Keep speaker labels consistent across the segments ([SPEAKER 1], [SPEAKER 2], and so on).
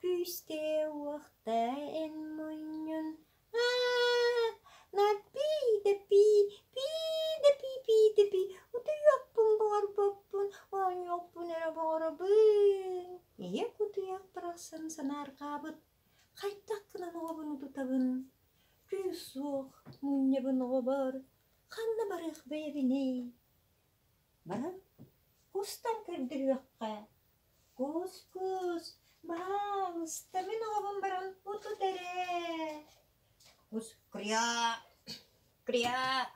[SPEAKER 1] Күүстээх уохтаа эн мунньун аа над пий да пий пий да пий пий да пий утуйуохпун буҕарбаппын оонньуохпун эрэ буҕарабын ийэ кутуйах барахсан санаарҕаабыт хайдах гынан оҕобун утутабын күүс суох мунньабын оҕобор ханна барыах бэйэбиний Баран кустан көрдөрүөххэ. Кус-кус, баҕаалыста, мин оҕобун баран утут эрэ. Кус кыряа, кыряа,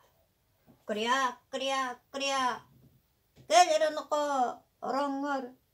[SPEAKER 1] кыряа, кыряа, кыряа. Кэл эрэ онуоха ороҥҥор.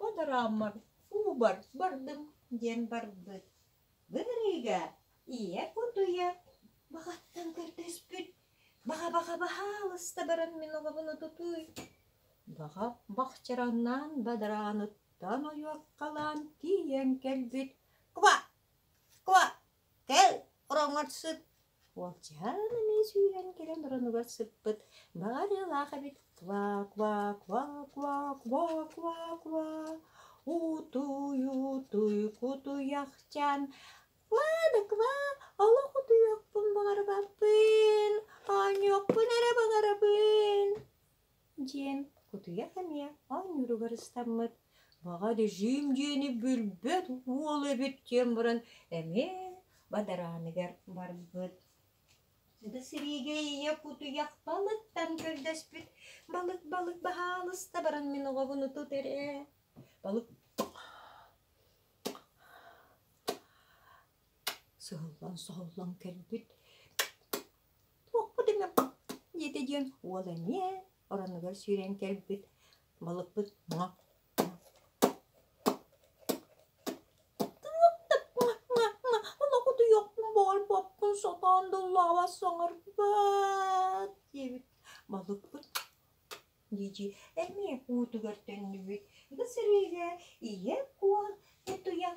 [SPEAKER 1] Подраммар Убар бардым диэн барбыт. Былырыыга ийэ кутуйа баҕаттан көрдөспүт. Баҕа-баҕа баһаалыста баран мин оҕобун утутуй. Баҕа бахчараннаан бадарааныттан ойуоккалаан тиийэн кэлбит: «Ква! Ква!» Кэл, ороҥҥор сыт. Уолчаан эмиэ сүүрэн кэлэн оронугар сыппыт. Баҕарыылаах эбит. Ква-ква, ква-ква, ква-ква, ква. Утуй, утуй, кутуйахчан. Ква да ква, олох утуйуохпун баҕарбаппын. Оонньуохпун эрэ баҕарабын. диэн кутуйах эмиэ оонньууругар ыстаммыт баҕа режим диэни билбэт уол эбит диэн баран эмиэ бадарааныгар барбыт да сириигэ ийэ кутуйах балыктан көрдөспүт балык балык баһаалыста баран мин оҕобун тут эрэ балык Соһуллан-соһуллан кэлбит туохпут эмэ диэтэ диэн уол эмиэ оронугар сүүрэн кэлбит балыкпыт Олох утуйуохпун буолбаппын сатаан дыллаабас саҥарбат диэбит балыкпыт дии-дии эмиэ уутугар төннүбүт ити сырыыга ийэ куон утуйан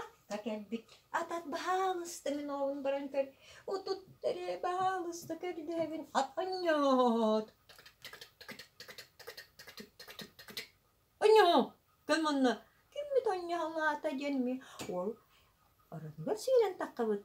[SPEAKER 1] Атта кэлбит. Атат баһаалыста мин оҕобун баран көр. Утут эрэ баһаалыста көрдөөбүн. Анньоот. Анньоо! Кэл манна. Киммит анньаалаата диэн ми. Ол оронугар сүүрэн таххабыт.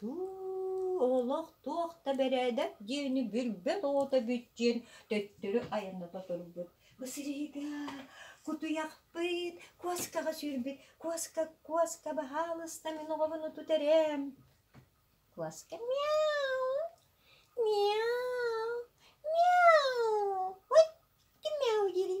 [SPEAKER 1] Туу, олох туох да бэрээдэк диэни бүрбэт оҕото бүт диэн төттөрү айанната турбут. Бу сириһигэ кутуйахпыт, куоскаҕа сүүрбүт, куоска, куоска баһаалыста мин оҕобун утут эрэм. Куоска мяу, мяу, мяу, отти мяу дири.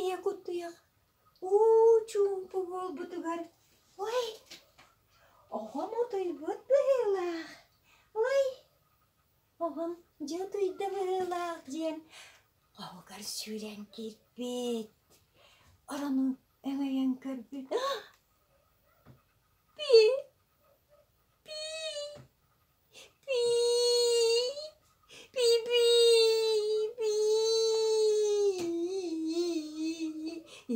[SPEAKER 1] Ийэ кутуйах уу чуумпу буолбутугар ой оҕом утуйбут быһыылаах ой оҕом дьэ утуйда быһыылаах диэн хоһугар сүүрэн киирбит оронун өҥөйөн көрбүт пи пи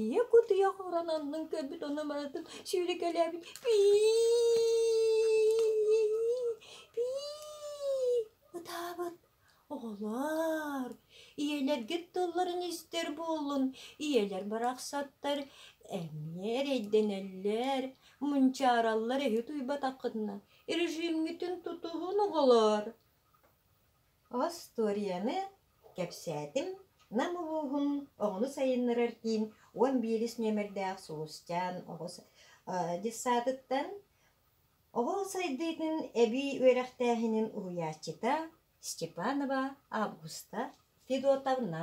[SPEAKER 1] ийэ кутуйах орон аннын көрбүт онно барытын сүүрүкэлээбит пии пии ытаабыт Оҕолоор, ийэлэргит тылларын истэр буоллун, ийэлэр барахсаттар эмиэ эрэйдэнэллэр, мунчаараллар эһи утуйбатаххытына, режимҥитин тутуһун оҕолоор. Остуоруйаны кэпсээтим Нам улууһун оҕону сайыннарар киин уон биирис нүөмэрдээх Сулусчаан оҕо детсаатыттан Оҕо сайдыытын эбии үөрэхтээһинин уһуйааччыта Степанова Августа Федотовна